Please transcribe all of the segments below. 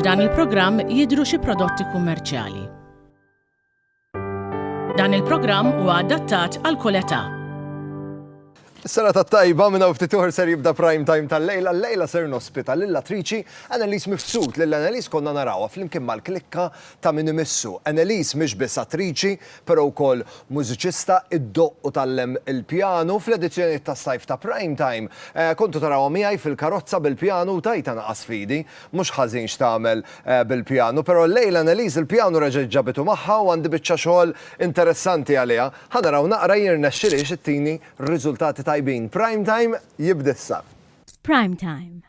F'dan il-programm jidhru xi prodotti kummerċjali. Dan il-programm huwa adattat għal kull età. Sena ta' tajba minna ftit uħor ser jibda prime time tal-lejla, l-lejla ser nospita l-attriċi Annelies Mifsud, l-Annelies konna narawa fl-imkien mal-klikka ta' minn imissu. Annelies mhix biss attriċi, però wkoll mużiċista, iddoqq u tgħallem il-pjanu. Fl-edizzjonijiet tas-sajf ta' Prime Time, kontu tarawha miegħi fil-karozza bil-pjanu u tajtha naqas f'idi. Mhux ħażin x'tagħmel bil-pjanu, però llejla Anneliese l-pjanu reġgħet ġabitu magħha u għandi biċċa xogħol interessanti għaliha. Ħa naraw naqra jirnexxilhiex ittini riżultati tajbin. Prime Time jibda issa. Prime Time,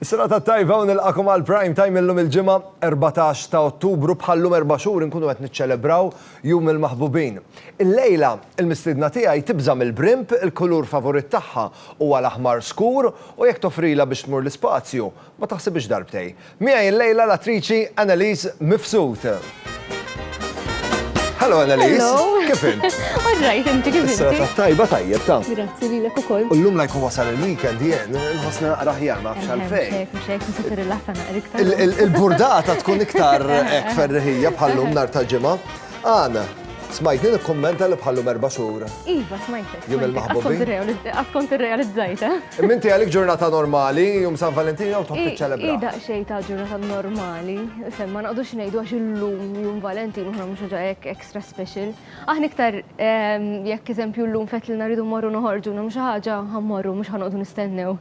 Is-serata t-tajba u nilqakom għal Prime Time illum il-Ġimgħa 14 ta' Ottubru bħal-lum erba' xhur inkunu qed niċċelebraw Jum il-Maħbubin. Il-lejla, il-mistiedna tiegħi tibża' mill-brimp, il-kulur favorit tagħha huwa l-aħmar skur u jekk toffrilha biex tmur l-ispazju, ma taħsibhiex darbtej. Miegħi l-lejla l-attriċi Anneliese Mifsud. Hello Annalise. Hello. Kif int? All right, inti kif inti? Sera tajba tajjeb ta. Grazzi li lek ukoll. U llum lajku wasal il-weekend jien, nħossna naqra ħjar ma fxal fejn. Xejk, xejk, nista tirrilaxa naqra iktar. Il-burdata tkun iktar hekk ferriħija bħallum nar ta' ġimgħa. Għana, smajtni nikkummenta li bħallum erba' xhur. Iva, smajtek. Jum il-maħbubi. Għaskont irrealizzajta. Imma inti għalik ġurnata normali, jum San Valentin jew tħobb tiċċelebra? Hi daqsxejn ta' ġurnata normali, fem ma naqdux ngħidu għax illum jum Valentin u mhux ħaġa hekk extra special. Aħna iktar ehm, jekk eżempju llum fetlilna rridu morru noħorġu nagħmlu xi ħaġa ħammorru mhux ħanoqdu nistennew.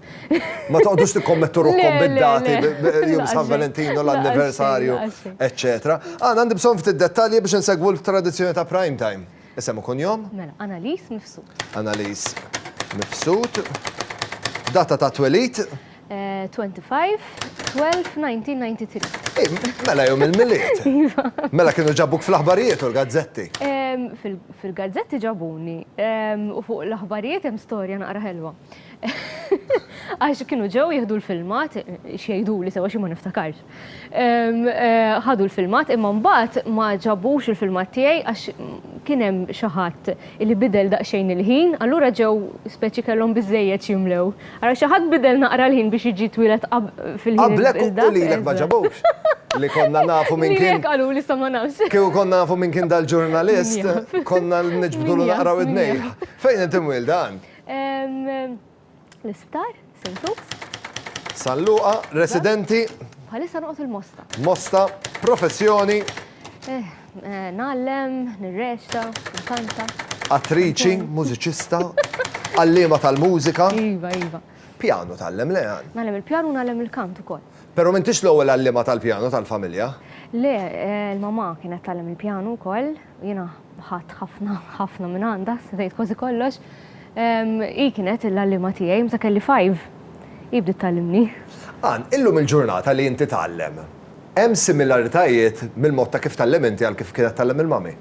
Ma toqgħodux tikkommettu ruħkom bid-dati jum San Valentin u l-anniversarju, eċċetera. Għandna għandi bżonn ftit dettalji biex insegwu l-tradizzjoni ta' prime time. Isem u kunjom? Mela, Analiz Mifsud. Analiz Mifsud. Data ta' twelid? 25-12-1993. Mela jom il-miliet. Iva. Mela kienu ġabuk fl-aħbarijiet u l-gazzetti. Fil-gazzetti ġabuni u fuq l-aħbarijiet hemm storja naqra ħelwa. Għax kienu ġew jieħdu l-filmat, xejdu li sewa xi ma niftakarx. Ħadu l-filmat imma mbagħad ma ġabux il-filmat tiegħi għax kien hemm xi ħadd li bidel daqsxejn il-ħin, allura ġew speċi kellhom biżżejjed x'jimlew. Ara xi ħadd bidel naqra l-ħin biex jiġi twieled fil-ħin il-dak. Qablek u lilek ma ġabux. Li konna nafu min kien. Lilek qalu li sa ma nafx. Kieku konna nafu min kien dal-ġurnalist, konna niġbdulu naqra widnejh. Fejn inti mwielda? L-isptar, St. Luke's. San Luqa, residenti. Bħalissa noqgħod il-Mosta. Mosta, professjoni. Eh, eh, nallem, nirreċta, nkanta. Attriċi, mużiċista, għallima tal-mużika. Iva, iva. Pjanu tallem le għan. Nallem il-pjanu nallem il-kant ukoll. Pero mintix l-ewwel għallima tal-pjanu tal-familja? Le, eh, l-mama kienet tallem il-pjanu wkoll, Jiena ħadt ħafna ħafna minn għandha, se ngħid kważi kollox. Hi kienet il-għalliema tiegħi meta kelli five. Hi bdiet tgħallimni. Ann, illum il-ġurnata li inti tgħallem, hemm similaritajiet mill-mod ta' kif tgħallem inti għal kif kienet tgħallem il-mummy?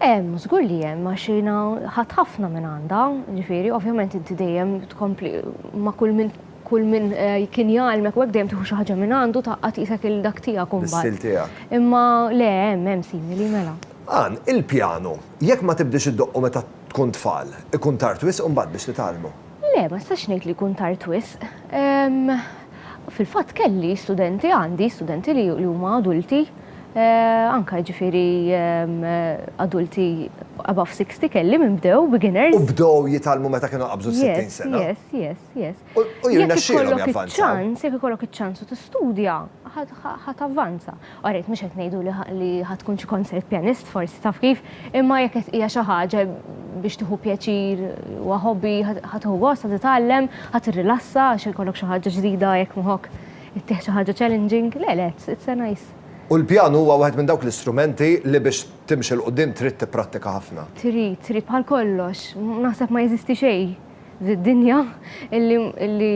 Hemm, żgur li hemm għax jiena ħadt ħafna minn għandha. Ġifieri, ovvjament inti dejjem tkompli ma' kull min Kull min kien jgħallmek u hekk dejjem tieħu xi ħaġa minn għandu taqqa' tqisek il dak tiegħek imbagħad. L-istil tiegħek. Imma le hemm hemm simili mela. Ann, il-pjanu, jekk ma tibdiex iddoqqu meta tkun tfal, ikun tard wisq imbagħad biex titgħallmu? Le, ma nistax ngħid li jkun tard wisq. Fil-fatt kelli studenti, għandi studenti li huma adulti, anke jiġifieri adulti above sixty kelli minn bdew, beginners. U bdew jitgħallmu meta kienu qabżu s-sittin sena? Yes, yes, yes. Yes. U jirnexxilhom javvanzaw. Ċans, jekk ikollok iċ-ċans u tistudja, ħat avvanza. Għarret mhux qed ngħidu li ħad tkun xi concert pianist forsi taf kif, imma jekk qed hija xi ħaġa biex tieħu pjaċir u hobby ħad tieħu gost, ħad titgħallem, ħad tirrilassa għax ikollok xi ħaġa ġdida jekk moħok ittieħ xi ħaġa challenging, le le, it's a nice. U l-pjanu huwa wieħed minn dawk l-istrumenti li biex timxi 'l quddiem trid tipprattika ħafna. Trid, trid bħal kollox, naħseb ma jeżisti xejn Fid-dinja illi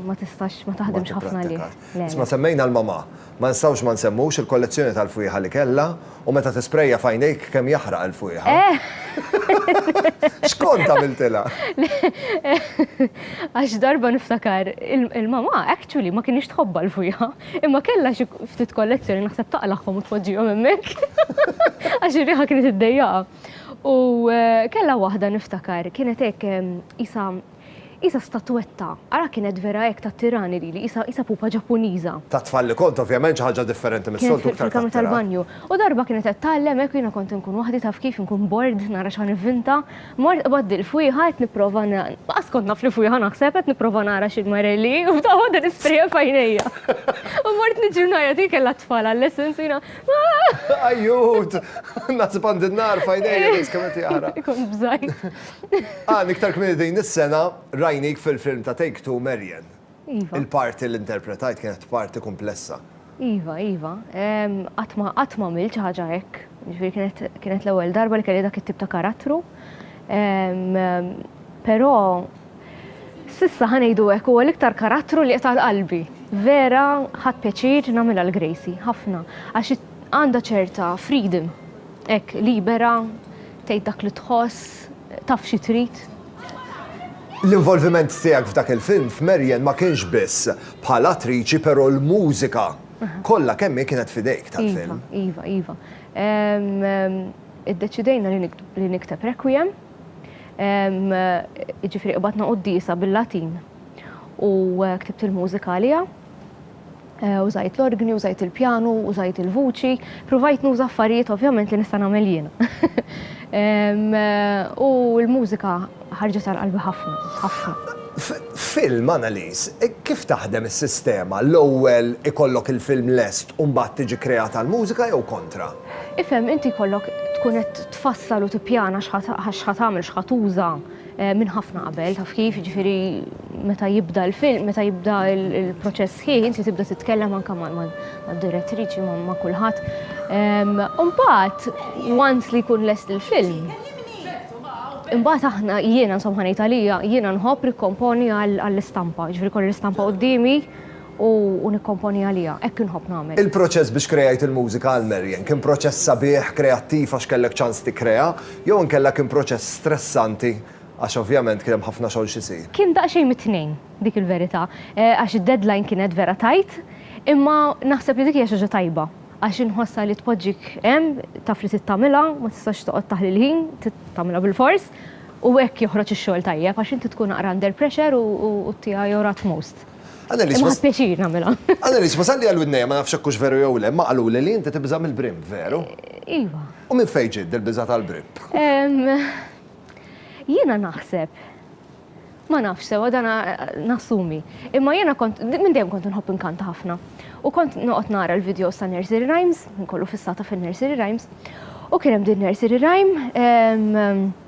ma tistax ma taħdimx ħafna għalih. Isma' semmejna l-mamà. Ma nistgħux ma nsemmux il-kollezzjoni tal-fwieħa li kellha u meta tisprejja f'għajnejk kemm jaħraq il-fwieħa. X'kont għamiltilha? Għax darba niftakar il-mamà actually ma kinitx tħobbha l-fwieħa imma kellha xi ftit kollezzjoni naħseb taqlagħhom u tpoġġihom hemmhekk għax ir-riħa kienet iddejjaqha. U kellha waħda niftakar, kienet hekk isa isa statwetta, ara kienet vera hekk ta' tirani lili, isa isa pupa Ġappuniża. Ta' tfal li kont ovvjament xi ħaġa differenti mis-soltu iktar. Fil-kamra tal-banju. U darba kienet qed tgħallem hekk u jiena kont inkun waħdi taf kif inkun bored nara x'ħa nivvinta, mort qbadt il-fwieħa qed nipprova laqas kont naf li fwieħa naħseb qed nipprova nara xi l-marelli u f'daqqa waħda nisprejha f'għajnejja. U mort niġri u ngħajjat hi kellha t-tfal għal-lessons u jiena Ajjut! Nasib għand in-nar fajnejja dejs kemm qed jara. Ikun bżajt. Ah, niktar kmini din is-sena rajnik fil-film ta' Take Two Marian. Iva. Il-parti li interpretajt kienet parti kumplessa. Iva, iva. Qatt ma qatt m'għamilt xi ħaġa hekk. Jiġifieri kienet kienet l-ewwel darba li kelli dak it-tip ta' karattru. Però S'issa, ħa ngħidu hekk, huwa l-iktar karattru li qiegħed għal qalbi. Vera ħadt pjaċir nagħmilha l-Gracie, ħafna, għax hi għandha ċerta freedom, hekk, libera, tgħid dak li tħoss, taf xi trid. L-involviment tiegħek f'dak il-film f'Marian ma kienx biss bħala attriċi però l-mużika kollha kemm hi kienet f'idejk tal-film. Iva, iva, iva. Iddeċidejna li nikteb Requiem. Jiġifieri qbadna quddiesa bil-Latin u ktibt il-mużika għaliha. Użajt l-orgni, użajt il-pjanu, użajt il-vuċi, pruvajt nuża affarijiet ovvjament li nista' nagħmel jiena. U l-mużika ħarġet għal qalbi ħafna, ħafna. F'film, Annalies, kif taħdem is-sistema, l-ewwel ikollok il-film lest u mbagħad tiġi kreata l-mużika jew kontra? Ifhem, inti jkollok tkun qed tfassal u tippjana x'ħa tagħmel, x'ħa tuża minn ħafna qabel, taf kif, jiġifieri meta jibda l-film, meta jibda l-proċess sħiħ, inti tibda titkellem anke mad-direttriċi, ma' kulħadd. U mbagħad, once li jkun lest il-film, imbagħad aħna, jiena insomma ħa ngħid għalija, jiena nħobb nikkomponi għall-istampa, jiġifieri jkolli l-istampa quddiemi, u nikkomponi għaliha, hekk inħobb nagħmel. Il-proċess biex kreajt il-mużika għal Marian kien proċess sabiħ, kreattiv għax kellek ċans tikkrea, jew inkella kien proċess stressanti għax ovvjament kien hemm ħafna xogħol x'isir? Kien daqsxejn mit-tnejn, dik il-verità, għax id-deadline kienet vera tight, imma naħseb li dik hija xi ħaġa tajba għax inħossha li tpoġġik hemm, taf li trid tagħmilha, ma tistax toqgħod taħli l-ħin, trid tagħmilha bilfors, u hekk joħroġ ix-xogħol tajjeb għax inti tkun aqra under pressure u ttiegħi your utmost. Annelies, ma pjaċir nagħmilha. Annelies, ma salli għal widnejja ma nafx hekk hux veru jew le, ma qaluli li inti tibża' mill-brim, veru? Iva. U minn fejn ġiet dil-biża' tal-brim? Jiena naħseb, ma nafx sewwa dan nassumi, imma jiena kont minn dejjem kont inħobb inkanta ħafna. U kont noqgħod nara l-videos ta' nursery rhymes, kollu fissata fin-nursery rhymes, u kien hemm din nursery rhyme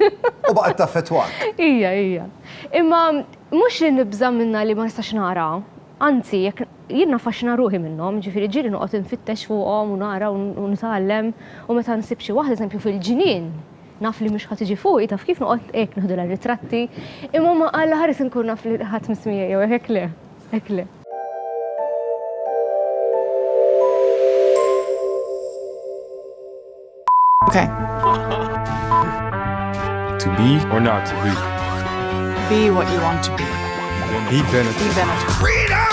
U baqgħet taffettwak. Ija, ija. Imma mhux li nibża' minnha li ma nistax nara, anzi jekk jien naffaxxina ruħi minnhom, ġifieri ġieli noqgħod infittex fuqhom u nara u nitgħallem u meta nsib xi waħda, eżempju fil-ġnien, naf li mhux ħa tiġi fuqi, taf kif noqgħod hekk nieħdulha ritratti, imma ma Alla ħares inkun naf li ħadd mhux miegħi jew hekk le, hekk le. Okay. to be or not to be. Be what you want to be. Be benefit. Be benefit. Freedom!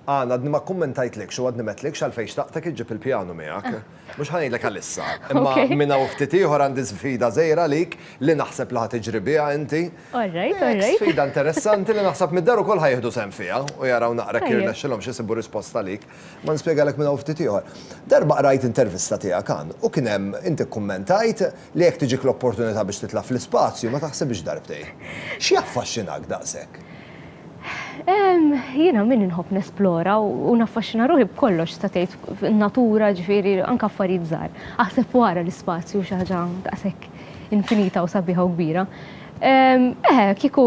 Għan, għadni ma kommentajt lek, xo għadni met lek, xalfej xtaqtek iġib il-pjanu miegħek. Ah. Mux ħanajt lek għalissa. Imma minna uftiti uħor għandi sfida zejra lik li naħseb li ħatiġri bija inti. Alright, alright. Sfida interessanti li naħseb mid-daru kol ħajħdu sen fija u jaraw naqra kirna xilom xisibu risposta lik. Ma nispjegalek minn hawn ftit ieħor. Darba qrajt intervista tiegħek hawn u kien hemm inti kkummentajt li jekk tiġik l-opportunità biex titla' fl-ispazju ma taħsibhiex darbtejn. X'jaffaxxinak daqshekk? Jiena min inħobb nesplora u naffaxxina ruħi b'kollox tista' tgħid, in-natura ġifieri anke affarijiet żgħar. Aħseb fuq ara l-ispazju hu xi ħaġa daqshekk infinita u sabiħa u kbira. Eħe, kieku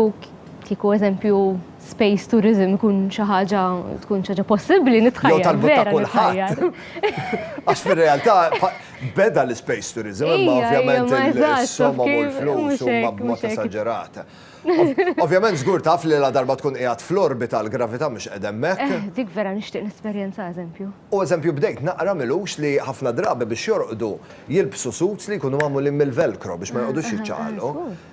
kieku eżempju, space tourism ikun xi ħaġa tkun xi ħaġa possibbli nitħajjar. Jew talbu ta' kulħadd. Għax fir-realtà beda l-space tourism, imma ovvjament il-somma u l-flus huma b'mod esaġerat. Ovvjament żgur taf li la darba tkun qiegħed fl-orbita l-gravità mhux qed hemmhekk. Eh, dik vera nixtieq nesperjenza eżempju. U eżempju bdejt naqra milux li ħafna drabi biex jorqdu jilbsu suits li jkunu magħmulin mill-velcro biex ma joqgħodux jiċċaqalqu.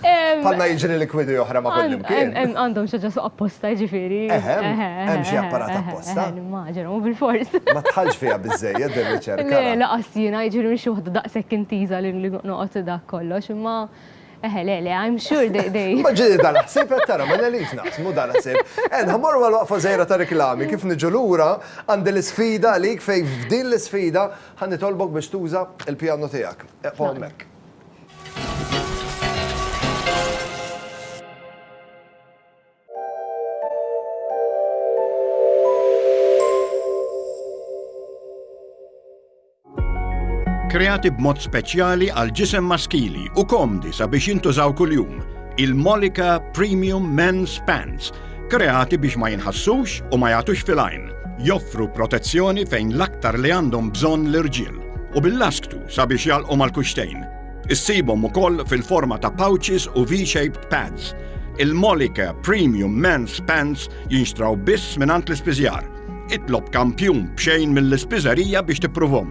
Bħalna jiġri li kwidi oħra ma' kull imkien. Għandhom xaġa suq apposta ġifiri. Hemm xi apparat apposta. Maġer, u bil-fors. Ma tħallx fija bizzejja din riċerka. Le, la qassina, ġifiri mhix waħda daqshekk intiża li noqgħod dak kollox, imma eħe, le, le, I'm sure they, they. Ma ġiri dan ħsieb qed tara, ma nelix naqsmu dan ħsieb. Għen, ħammorru għal waqfa żgħira ta' riklami, kif niġu lura għandi l-isfida għalik fejn f'din l-isfida ħa nitolbok biex tuża l-pjanu tiegħek. Eqgħu hemmhekk. kreati b'mod speċjali għal ġisem maskili u komdi sabiex jintużaw kuljum. Il-Molika Premium Men's Pants kreati biex ma jinħassux u ma jagħtux fil-għajn, joffru protezzjoni fejn l-aktar li għandhom bżonn l-irġiel, u bil-lasktu sabiex jalqu mal-kuxtejn. Issibhom ukoll fil-forma ta' pouches u V-shaped pads. Il-Molika Premium Men's Pants jinxtraw biss mingħand l-ispiżjar. Itlob kampjun b'xejn mill-ispiżerija biex tippruvhom.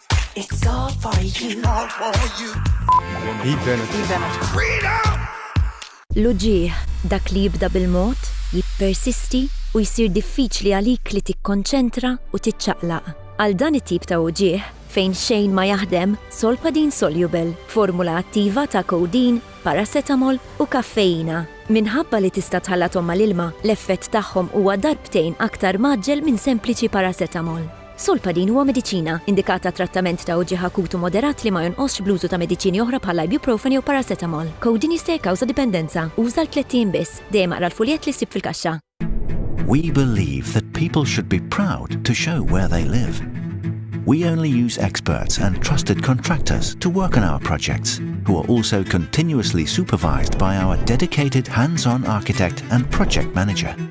It's all for you. All for you. L-uġigħ, dak li jibda bil-mod, jippersisti u jsir diffiċli għalik li tikkonċentra u tiċċaqlaq. Għal dan it-tip ta' uġigħ, fejn xejn ma jaħdem, Solpadin Soluble, formula attiva ta' codeine, paracetamol u kaffeina. Minħabba li tista' tħallathom mal-ilma, l-effett tagħhom huwa darbtejn aktar mgħaġġel minn sempliċi paracetamol. Solpadin huwa mediċina, indikat għat-trattament ta' uġigħ akut u moderat li ma jonqosx bl-użu ta' mediċini oħra bħall-ibuprofen jew paracetamol. Codeine jista' jikkawża dipendenza. Uża għal tlett ijiem biss. Dejjem aqra l-fuljett li ssib fil-kaxxa. We believe that people should be proud to show where they live. We only use experts and trusted contractors to work on our projects, who are also continuously supervised by our dedicated hands-on architect and project manager.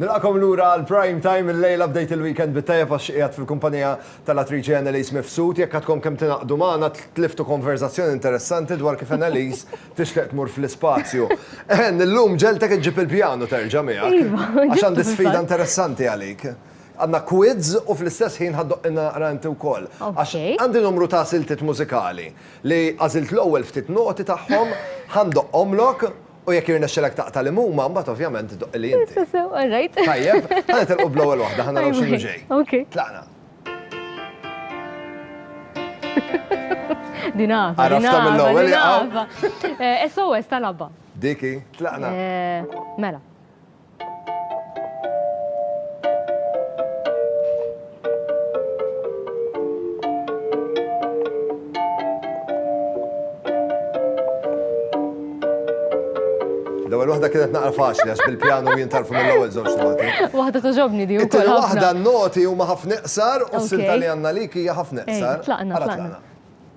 Nilqakom lura għal prime time il-lejla bdejt il-weekend bit-tajjeb għax qiegħed fil-kumpanija tal-attriċi Annalise Mifsud jekk għadkom kemm tingħaqdu magħna tliftu konverzazzjoni interessanti dwar kif Annalise tixtieq tmur fl-ispazju. Eħen, illum ġeltek iġġib il-pjanu terġa' miegħek. Iva, għax għandi sfida interessanti għalik. Għandna quiz u fl-istess ħin ħaddoq naqra inti wkoll. Għax għandi numru ta' siltiet mużikali Li għażilt l-ewwel ftit noti tagħhom, ħa ndoqqhomlok u jekk jirnexxilek taqta' li huma, mbagħad ovvjament doqqili inti. Sew sew, all right. Tajjeb, ħa nitilqu bl-ewwel waħda, ħa naraw x'inhu ġej. Okej. Tlaqna. Din għafa, Għarafta din għafa, mill-ewwel, din jaqaw. għafa. Eh, SOS tal-abba. Dik hi, tlaqna. Eh, Mela. L-ewwel waħda kienet naqra faċli għax bil-pjanu jien tarfu mill-ewwel żewġ noti. Waħda toġobni di wkoll. Waħda noti huma ħafna iqsar u s-silta li għandna lik hija ħafna iqsar. Tlaqna, tlaqna.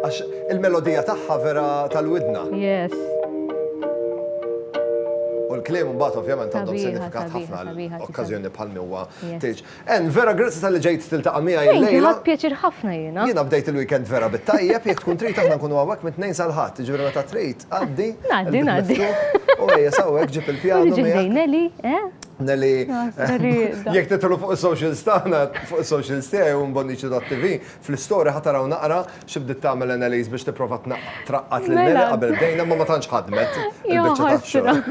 Għax il-melodija tagħha vera tal-widna. Yes. U l-kliem mbagħad ovvjament għandhom sinifikat ħafna okkażjoni bħal miwa tiġ. En, vera grazzi tal-li ġejt tiltaqa' miegħi l-lejla. Ħadd pjaċir ħafna jiena. Jiena bdejt il-weekend vera bit-tajjeb, jekk tkun trid aħna nkunu hawnhekk mit-Tnejn sal-Ħadd, jiġifieri meta trid għaddi. Ngħaddi, ngħaddi. U ejja sawwek ġib il-pjanu. Ġib ġej Neli, eh? Neli, jekk titlu fuq is-socials tagħna, fuq is-socials tiegħi u mbonniċi.tv, Fl-istory ħa tara u naqra xi bdiet tagħmel Anneliese biex tipprova traqqad lil Nelly qabel bdejna imma ma tantx ħadmet il-biċċa tax-xogħol.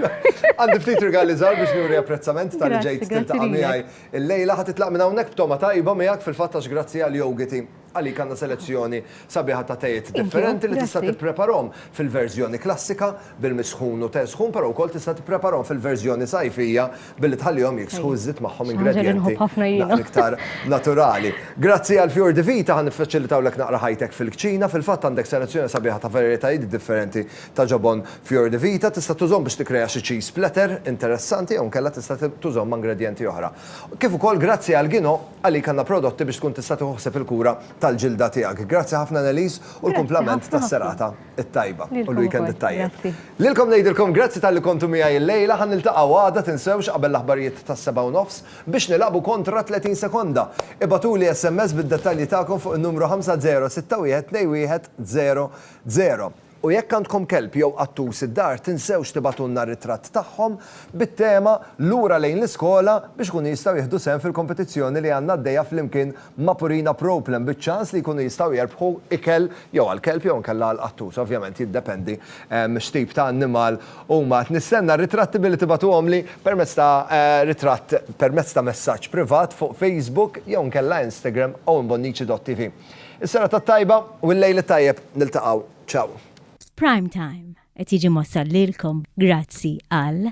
Għandi ftit rigali żgħar biex nuri apprezzament ta' li ġejt tiltaqa' miegħi illejla. Ħa titlaq minn hawnhekk b'togħma tajba miegħek fil-fatt għax grazzi għal jogiti għalik għandna selezzjoni sabiħa ta' tejiet differenti li tista' tippreparahom fil-verżjoni klassika bil-misħun u te sħun però wkoll tista' tippreparahom fil-verżjoni sajfija billi tħallihom jiksħu iżżid magħhom ingredjenti naqra iktar naturali. Grazzi għal Fjur di Vita ħa niffaċilitawlek naqra ħajtek fil-kċina, fil-fatt għandek selezzjoni sabiħa ta' varjetajiet differenti ta' ġobon Fjur di Vita, tista' tużhom biex tikkrea xi cheese splatter interessanti jew inkella tista' tużhom ma' ingredjenti oħra. Kif ukoll grazzi għal Gino għalik għandna prodotti biex tkun tista' tieħu ħsieb il-kura tal-ġilda tiegħek. Grazzi ħafna Anneliese u l-kumplament tas-serata. it-tajba u l-weekend it-tajjeb. Lilkom ngħidilkom grazzi talli kontu miegħi illejla, ħa niltaqgħu għada tinsewx qabel l-aħbarijiet tas-sebgħa u nofs biex nilagħbu kontra 30 sekonda. Ibagħtuli SMS bid-dettalji tagħkom fuq in-numru 50612100. U jekk għandkom kelb jew qattus id-dar tinsewx tibagħtulna r-ritratt tagħhom bit-tema Lura lejn l-iskola biex ikunu jistgħu jieħdu sehem fil-kompetizzjoni li għandna għaddejja flimkien ma' Purina Proplen biċ-ċans li jkunu jistgħu jerbħu ikel jew għall-kelb jew inkella għall-qattus, ovvjament jiddependi x'tip ta' annimal huma. Qed nistenna r-ritratti billi tibagħtuhomli permezz ta' ritratt permezz ta' messaġġ privat fuq Facebook jew inkella Instagram owenbonnici.tv. Is-serata t-tajba u l-lejl it-tajjeb, niltaqgħu. Ciao. Prime Time qed jiġi mwassal lilkom grazzi għal.